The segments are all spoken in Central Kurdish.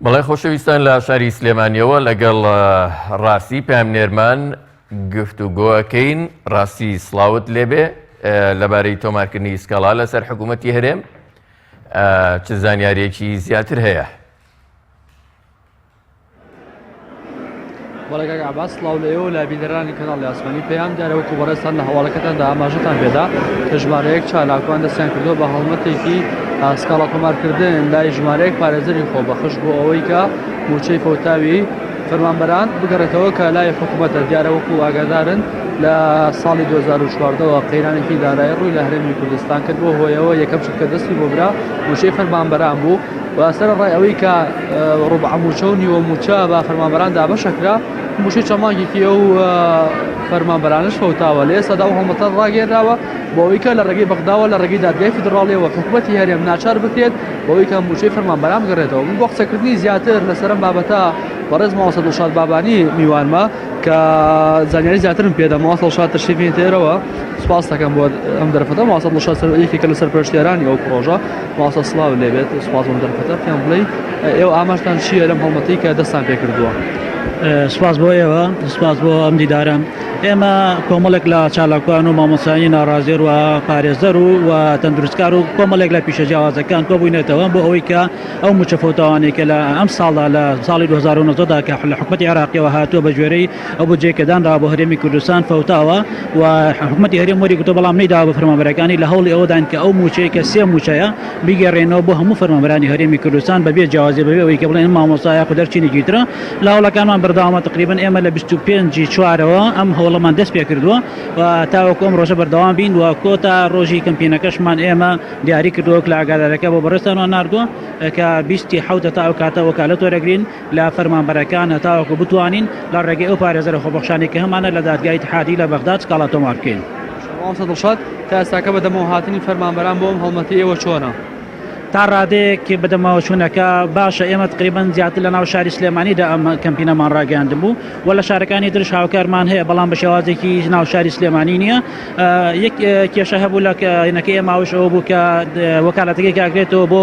بەڵێ خۆشەویستان لە شاری سلێمانیەوە لەگەڵ ڕاستی پامنێرمان گفت و گۆەکەین ڕاستی سلااوت لێبێ لەبارەی تۆمارکردنی سکاڵا لەسەر حکوومەتتی هەرێم چ زانیارێکی زیاتر هەیە بەڵێ کاک عەباس سڵاو لە ئێوە و لە بینەرانی کەناڵی ئاسمانی پەیام دیارە وەکو بەڕێزتان لە هەواڵەکەتاندا ئاماژەتان پێدا کە ژمارەیەک چالاکوان دەستیان کردووە بە هەڵمەتێکی سکاڵا تۆمارکردن لای ژمارەیەک پارێزەری خۆبەخش بۆ ئەوەی کە مووچەی فەوتاوی فەرمانبەران بگەڕێتەوە کە لای حکوومەتە دیارە وەکو ئاگادارن لە ساڵی 2014ەوە قەیرانێکی دارایی ڕووی لە هەرێمی کوردستان کرد بۆ هۆیەوە یەکەم شت کە دەستی بۆ برا مووچەی فەرمانبەران بوو و سەرەڕای ئەوەی کە ڕوبعە مووچە و نیوە مووچە بە فەرمانبەران دابەشە کرا مووچەی چەند مانگێکی ئەو فەرمانبەرانش فەوتاوە لە ئێستادا ئەو هەڵمەتە ڕاگەێنراوە بۆ ئەوەی کە لە ڕێگەی بەغداوە لە ڕێگەی دادگای فیدراڵیەوە حکوومەتی هەرێم ناچار بکرێت بۆ ئەوەی کە مووچەی فەرمانبەران بگەڕێتەوە من بۆ قسەکردنی زیاتر لەسەر ئەم بابەتە بەڕێز ماوەسە دڵشاد بابانی میوانمە کە زانیاری زیاترم پێدا ماوەسە دڵشاد تەشریفی تێرەوە سپاس دەکەم بۆ ئەم دەرفەتە ماوەسە دڵشاد سەر یەکێکە لە سەرپەرشتیارانی ئەو پرۆژە مامۆستا سڵاو لێبێت سوپاسم دەرفەتە پێم بڵێ ئێوە ئاماژتان چییە لەم هەڵمەتی کە دەستان پێ کردووە سپاس بۆ ئێوە سپاس بۆ ئەم دیدارە ئێمە کۆمەڵێک لە چالاکوان و مامۆسانی ناڕازێر و پارێزەر و و تەندروستکار و کۆمەڵێک لە پیشە جیاوازەکان کۆبووینێتەوە بۆ ئەوەی کە ئەو مچەفۆتاوانێکە لە ئەم ساڵدا لە ساڵی 2009دا کە لە حکوومەتی عێراقیەوە هاتووە بە گوێرەی ئەو بودجەی کە دانراوە بۆ هەرێمی کوردستان فەوتاوە و حکومەتی هەرێم وەریگرتووە بەڵام نەیداوە بە فەرمانبەرەکانی لە هەوڵی ئەوەدان کە ئەو مووچەی کە سێ مووچەیە بیگەرێنەوە بۆ هەموو فەرمانبەرانی هەرێمی کوردستان بە بێ جیاوازی بەبێ ئەوەی کە بڵێن ئەم مامۆستا یاخود هەر چینێکی ترە لە هەوڵەکانمان بەردەوامە تقریبەن ئێمە لە بیست و پێنج ی چوارەوە ئەم هەوڵەمان دەست پێ کردووە و تاوەکو ئەم ڕۆژە بەردەوام بین و کۆتا ڕۆژی کەمپینەکەشمان ئێمە دیاری کردووە وەک لە ئاگادارەکە بۆ بەڕێزتانمان ناردووە کە بیست ی حەوت ە تا ئەو کاتە وەکالەت وەرەگرین. لە فەرمانبەرەکان هەتاوەکو بتوانین لە ڕێگەی ئەو پارێزەرە خۆبەخشانەی کە هەمانە لە دادگای ئیتحادی لە بەغداد سکاڵا تۆمار بکەین. مامۆستا دڵشاد، تا ئێستاکە بەدەمەوە هاتنی فەرمانبەران بۆ ئەم هەڵمەتی ئێوە چۆنە؟ تا ڕادەیەک بەدەمەوە چوونەکە باشە، ئێمە تەقریبەن زیاتر لەناو شاری سلێمانیدا ئەم کەمپینەمان ڕاگەیاندبوو و لە شارەکانی ترش هاوکارمان هەیە، بەڵام بە شێوازێکی ناو شاری سلێمانی نییە. یەک کێشە هەبوو لە کەینەکەی ئێمە ئەوەش ئەوە بوو کە وەکالەتەکەی کاک نێتۆ بۆ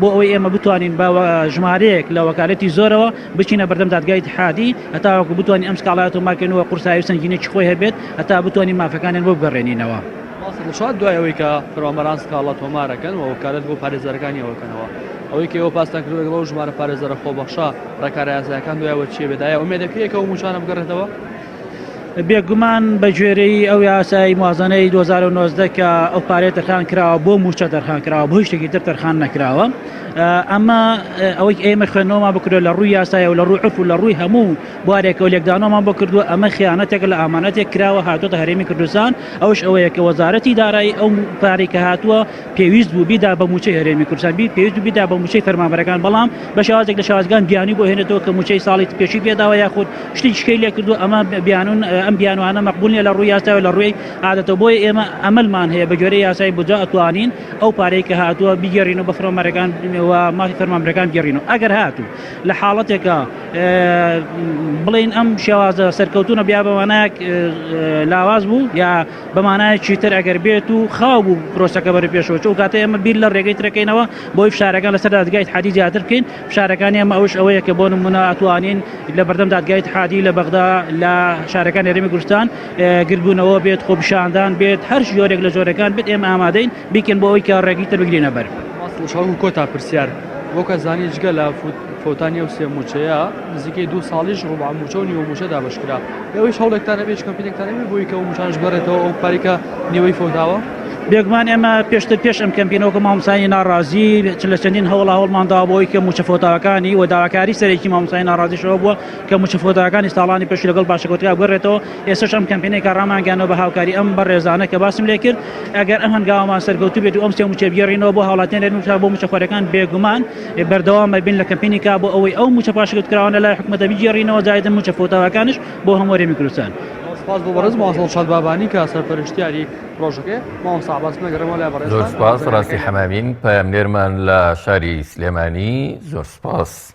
بۆ ئەوەی ئێمە بتوانین بە ژمارەیەک لە وەکالەتی زۆرەوە بچینە بەردەم دادگای اتحادی هەتاوەکو بتوانین ئەم سکاڵای تۆمارکردن و قورسایی و سەنگینێکی خۆی هەبێت هەتا بتوانین مافەکانیان بۆ بگەڕێنینەوە. ماست دڵشاد دوای ئەوەی کە فەرمانبەران سکاڵا تۆمارەکەن و وەکالەت بۆ پارێزەرەکانیان وەکەنەوە، ئەوەی کە ئێوە باستان کردووە لەگەڵ ئەو ژمارە پارێزەرە خۆبەخشە، ڕێکارە یاسایەکان دوای ئەوە چییە بێت؟ ئایا ئومێدە کەی کە ئەو مووچانە بگەڕێتەوە؟ بێگومان بەگوێرەی ئەو یاسای موازنەی 2009 کە ئەو پارەیە تەرخان کراوە بۆ موچە تەرخان کراوە بۆ شتێکی تر تەرخان نەکراوە ئەمە ئەوەی ئێمە خوێنەوەما بکرێت لە ڕووی یاسایە و لە ڕوو عرف و لە ڕووی هەموو بوارێکەوە لێکدانەوەمان بۆ کردووە ئەمە خیانەتێک لە ئامانەتێک کراوە هاتۆتە هەرێمی کوردستان ئەوش ئەوەیە کە وەزارەتی دارایی ئەو پارێکە هاتووە پێویست بوو بیدا بە مووچەی هەرێمی کوردستان بی پێویست بیدا بە مووچەی فەرمانبەرەکان بەڵام بە شێوازێک لە شێوازەکان بیانووی بۆ هێنێتەوە کە مووچەی ساڵی پێشووی پێ داوە یاخود شتی دیکەی لێ کردووە ئەمە بیانوون ئەم بیانووانە مەقبوول نییە لە ڕووی یاساوە لە ڕووی عادەتەوە بۆیە ئێمە ئەمەلمان هەیە بەگوێرەی یاسای بودجە ئەتوانین ئەو پارەی کە هاتووە بیگەڕینەوە بە فەرمانبەرەکان و مافی فەرمانبەرەکان بگەڕینەوە ئەگەر هاتوو لە حاڵەتێکە بڵێن ئەم شێوازە سەرکەوتوونە بیا بە مانایەک لاواز بوو یا بە مانایەکی تر ئەگەر بێت و خاو بوو پرۆسەکە بەرەو پێشەوە چوو کاتە ئێمە بیر لە ڕێگەی ترەکەینەوە بۆی فشارەکان لەسەر دادگای اتحادی زیاتر بکەین فشارەکانی ئێمە ئەوش ئەوەیە کە بۆ نمونە ئەتوانین لە بەردەم دادگای اتحادی لە بەغدا لە شارەکانی هەرێمی کوردستان گردبوونەوە بێت خۆپیشاندان بێت هەر جۆرێک لە جۆرەکان بێت ئێمە ئامادەین بیکەن بۆ ئەوی کە ڕێگەی تر بگرینە بەر کۆتا پرسیار بۆ کەزانی جگە لە فوت فەوتانی ئەو سێ مووچەیە نزیکەی دوو ساڵیش ڕوبع مووچە و نیوە مووچە دابەشکرا لەوەیش هەوڵێکتان هەبێت هیچ کەمپینێکتان هەبێت بۆی کە ئەو مووچانەش بگەڕێتەوە ئەو پارەی کە نیوەی فەوتاوە بێگومان ئێمە پێشتر پێش ئەم کەمپینە وەکو مامۆستایانی ناڕازی چ لە چەندین هەوڵا هەوڵمان داوە بۆی کە مووچە فەوتاوەکانی و داواکاری سەرەکی مامۆستای ناڕازیشەوە بووە کە مووچە فەوتاوەکانی ساڵانی پێش لەگەڵ باشەکەوتگا بگەڕێتەوە ئێستاش ئەم کەمپینێکە ڕامانگەیاندنەوە بە هاوکاری ئەم بەڕێزانە کە باسم لێ کرد ئەگەر ئەم هەنگاوەمان سەرکەوتوو بێت و ئەم سێ مووچە بگێڕینەوە بۆ هاوڵاتیان لێرەن و بۆ مووچەخۆرەکان بێگومان بەردەوام ئەبین لە کەمپینی کا بۆ ئەوەی ئەو مووچە پاشگەوتکراوانە لای حکومەتە بگێڕینەوە جایدن مووچە فەوتاوەکانیش بۆ هەموو هەرێمی کوردستان. سپاس بۆ بەڕێز مامۆستا دڵشاد بابانی کە سەرپەرشتیاری پڕۆژەکەیە. مامۆستا عەباس من ئەگەڕێمەوە لای بەڕێزتان. زۆر سپاس ڕاستی حەمامین پەیامنێرمان لە شاری سلێمانی زۆر سپاس.